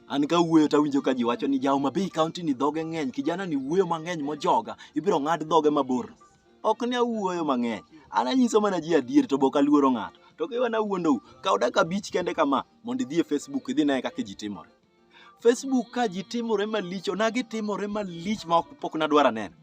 An ka wuoyo to awinjo ka ji wacho ni jaoma Bay County ni dhoge ng'eny, kijana ni wuoyo mang'eny mojoga, ibiro ng'ad dhoge mabor. Ok ne awuoyo mang'eny, an anyiso mana ji adier to be ok aluoro ng'ato. To ka iwena awuondou, kaw dakika abich kende kama mondo idhi e Facebook idhi ine kaka ji timore. Facebook ka ji timore malich, onagi timore malich ma ok- pok nadwar aneno.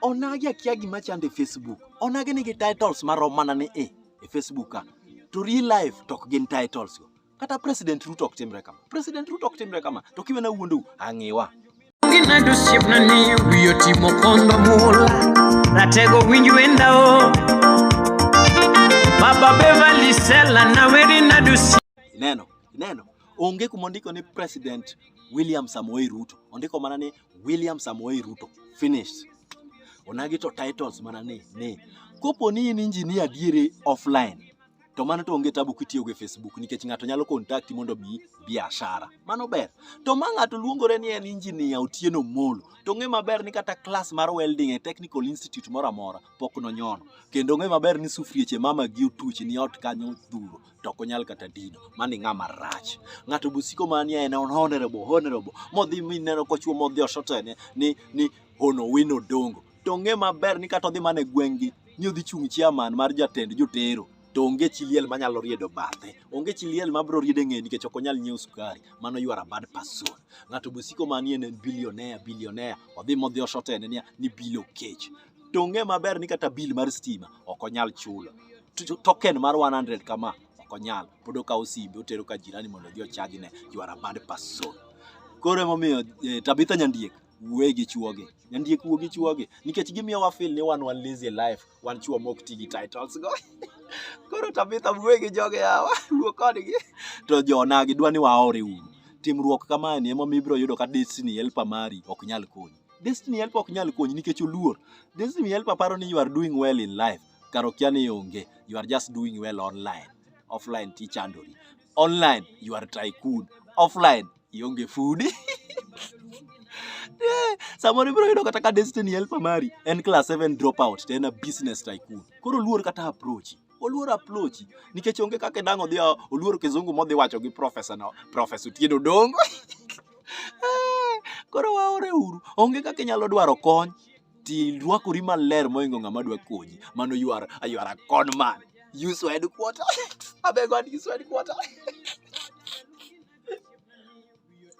Onagi akia gima chande Facebook, onagi nigi titles marom mana ni i. e Facebook ka to real life to ok gin titles go kata president Ruto ok timre kama president Ruto ok timre kama to kiwena wuondu ang'iwa Ginado siepna ni wiyo timo kondo mula Ratego winj wenda o Baba Beverly Sela na weri nado siepna ineno ineno onge kuma ondiko ni president William Samoei Ruto ondiko mana ni William Samoei Ruto. Finished. Onagi to titles mana ni ni. Kopo ni in engineer adiere offline to mano to onge tabu kitiyo gi Facebook nikech ng'ato nyalo kontakti mondo mi biashara. Mano ber. To ma ng'ato luongore ni en injinia Otieno Molo, to ng'e maber ni kata klas mar welding e Technical Institute moro amora pok nonyono. Kendo ng'e maber ni sufrieche mama gi otuch ni ot kanyo dhuro. to ok onyal kata dino. Mani ng'ama rach. Ng'ato bosiko mania en on honorable, honorable. Modhi mineno kochwo modhi oshoto ene ni, ni hono wino dongo. To ong'e maber ni kata odhi mana e gweng'gi ni odhi chung' chairman mar jatend jotero to onge chi liel manyalo riedo bathe onge chi liel mabro riede ng'e nikech ok onyal nyiewo sukari mano you are a bad person ng'ato bosiko manie en billionaire billionaire odhi modhi oshotene niya ni bilo kech to ong'e maber ni kata bill mar stima ok onyal chulo token mar 100 kama ok onyal pod okawo simbe otero ka jirani mondo odhi ochagi ne you are a bad person koro emomiyo eh, Tabitha Nyandiek wuoye gi chuoge Nyandiek wuo gi chuoge nikech gimiyo wa feel ni wan wan lazy life wan chuo mok ti gi titles go koro Tabitha wuoye gi joge yawa wuo kodgi to jonagi dwa ni waore uru timruok kamaeni emomiyo ibiro yudo ka destiny helper mari ok nyal konyi Destiny help ok nyal konyi nikech oluor. Destiny help aparo ni you are doing well in life. Kar okia ni onge. You are just doing well online. Offline ti chandori. Online you are tycoon. Offline ionge food. Eh, samoro ibiro yudo kata ka destiny help mari en class 7 dropout to en a business tycoon. Koro luor kata approach. oluoro aplochi nikech onge kaka e dang' odhi oluoro kizungu modhi wacho gi profesa no profesa Otieno Odongo koro waore uru onge kaka inyalo dwaro kony ti rwakori maler moingo ng'ama dwa konyi mano you are, you are a con man use your headquarter abeg wan use your headquarter